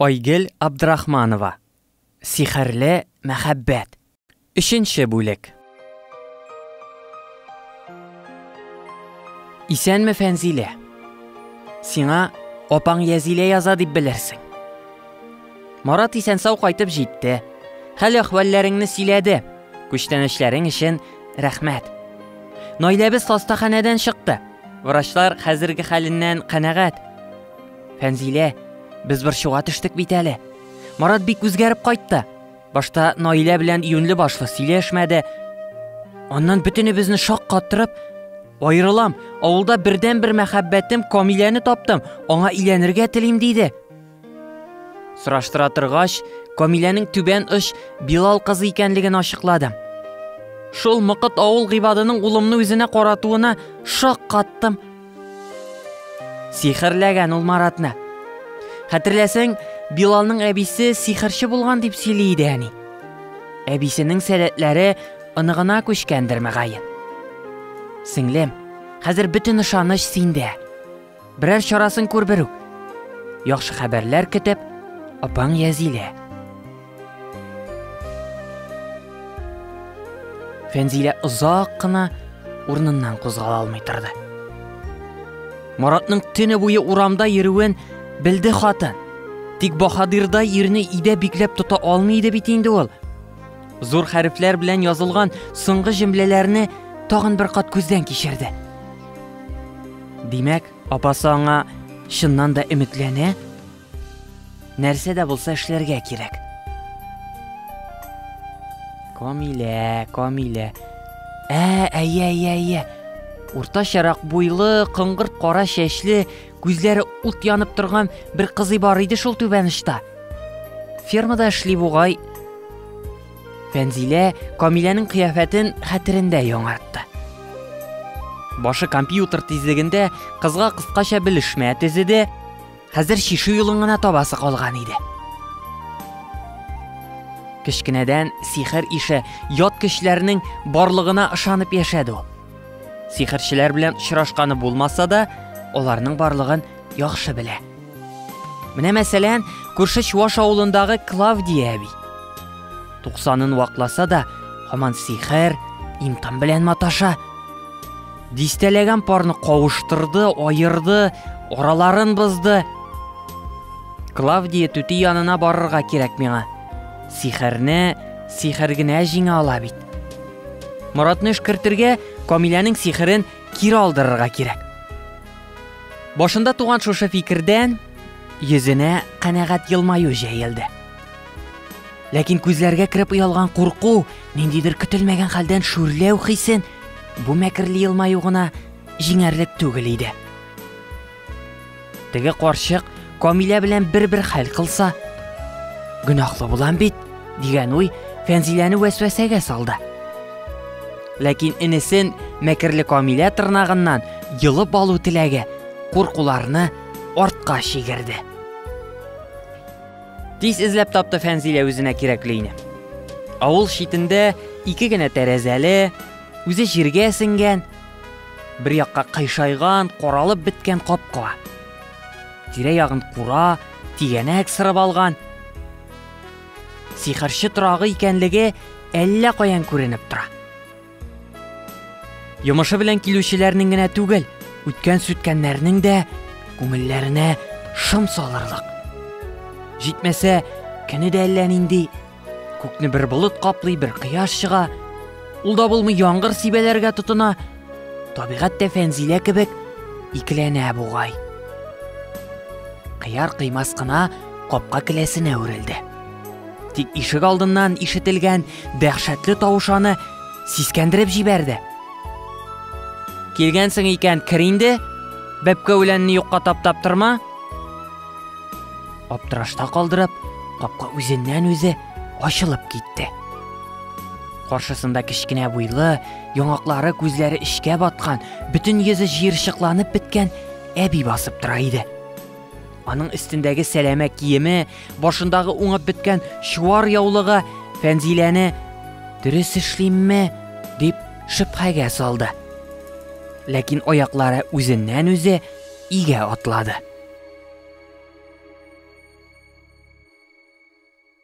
Айгөл Абдрахманова Сихерле мәхәббәт. Өченче бүлек. Исәнме, Фәнзилә. Сиңа апаң Язилә яза дип белерсең. Марат исән-сау кайтып җитте. Хәл-әхвәлләреңне сөйләде. Күчтәнәчләрең өчен рәхмәт. Наиләбез хастаханәдән чыкты. Врачлар хәзерге хәленнән канәгать. Фәнзилә, без борчуга төштек бит әле. Марат бик үзгәреп кайтты. Башта Наилә белән юнле башлы сөйләшмәде. Аннан бөтенебезне шаккаттырып, Аерылам, авылда бердән бер мәхәббәтем Камиләне таптым, аңа иләнергә телим диде. Сораштыра торгач, Камиләнең түбән оч Билал кызы икәнлеген ачыкладым. Шул мыкыт авыл гыйбадының улымны үзенә каратуына шаккаттым. Сихерләгән ул Маратны. Хәтерләсәң, Билалның әбисе сихерче булган дип сөйли иде әни. Әбисенең сәләтләре оныгына күчкәндер мәгаен. Сеңлем, хәзер бөтен ышаныч синдә. Берәр чарасын күр берүк. Яхшы хәбәрләр көтеп, апаң Язилә. Фәнзилә озак кына урыныннан кузгала алмый торды. Маратның төне буе урамда йөрүен белде хатын. Тик баһадирда ирне идә бикләп тота алмый иде бит инде ул. Зур хәрефләр белән язылган соңгы җөмләләрне тагын бер кат күздән кичерде. Димәк, апасы аңа чыннан да өметләнә? Нәрсә дә булса эшләргә кирәк. Камилә, Камилә. Ә, әйе, әйе, әйе. Уртачарак буйлы, кыңгырт кара чәчле, күзләре ут янып торган бер кызый бар иде шул түбәнышта. Фермада эшли бугай. Фәнзилә Камиләнең кыяфәтен хәтерендә яңартты. Башы компьютер тизлегендә кызга кыскача белешмә тезеде, Хәзер чишү юлын гына табасы калган иде. Кечкенәдән сихер ише ят көчләрнең барлыгына ышанып яшәде ул. Сихерчеләр белән очрашканы булмаса да, аларның барлыгын яхшы белә. Менә мәсәлән, күрше Чуаш авылындагы Клавдия әби. 90-ын вакласа да, һаман сихер, имтан белән маташа. Дистәләгән парны кавыштырды, аерды, араларын бозды. Клавдия түти янына барырга кирәк миңа. Сихерне сихер генә җиңә ала бит. Моратны эшкертергә Камиләнең сихерен кире алдырырга кирәк. Башында туган шушы фикердән йөзенә канәгать елмаю җәелде. Ләкин күзләргә кереп оялган курку, ниндидер көтелмәгән хәлдән шүрләү хисен бу мәкерле елмаю гына җиңәрлек түгел иде. Теге карчык Камилә белән бер-бер хәл кылса, гөнаһлы булам бит, дигән уй Фәнзиләне вәсвәсәгә салды. Ләкин инесен мәкерле Камилә тырнагыннан йылып алу теләге куркуларны артка чигерде. Тиз эзләп тапты Фәнзилә үзенә кирәкле өйне. Авыл читендә ике генә тәрәзәле, үзе җиргә сеңгән, бер якка кыйшайган, коралып беткән капка. Тирә ягын кура, тигәнәк сырып алган. Сихерче торагы икәнлеге әллә каян күренеп тора. Йомышы белән килүчеләрнең генә түгел, үткән сүткәннәрнең дә күңелләренә шым салырлык. Җитмәсә, кене дә әллә нинди. Күкне бер болыт каплый, бер кояш чыга. Ул да булмый яңгыр сибәләргә тотына. Табигать тә фәнзилә кебек икеләнә бугай. Кыяр кыймас кына капка келәсенә үрелде. Тик ишек алдыннан ишетелгән дәһшәтле тавыш аны сискәндереп җибәрде. Килгәнсең икән, кер инде. Бәпкә үләнне юкка таптап торма. Аптырашта калдырып, капка үзеннән үзе ачылып китте. Каршысында кечкенә буйлы, яңаклары күзләре эчкә баткан, бөтен йөзе җыерчыкланып беткән әби басып тора иде. Аның өстендәге сәләмә киеме, башындагы уңып беткән чуар яулыгы Фәнзиләне дөрес эшлимме дип шөбһәгә салды. Ләкин аяклары үзеннән үзе игә атлады.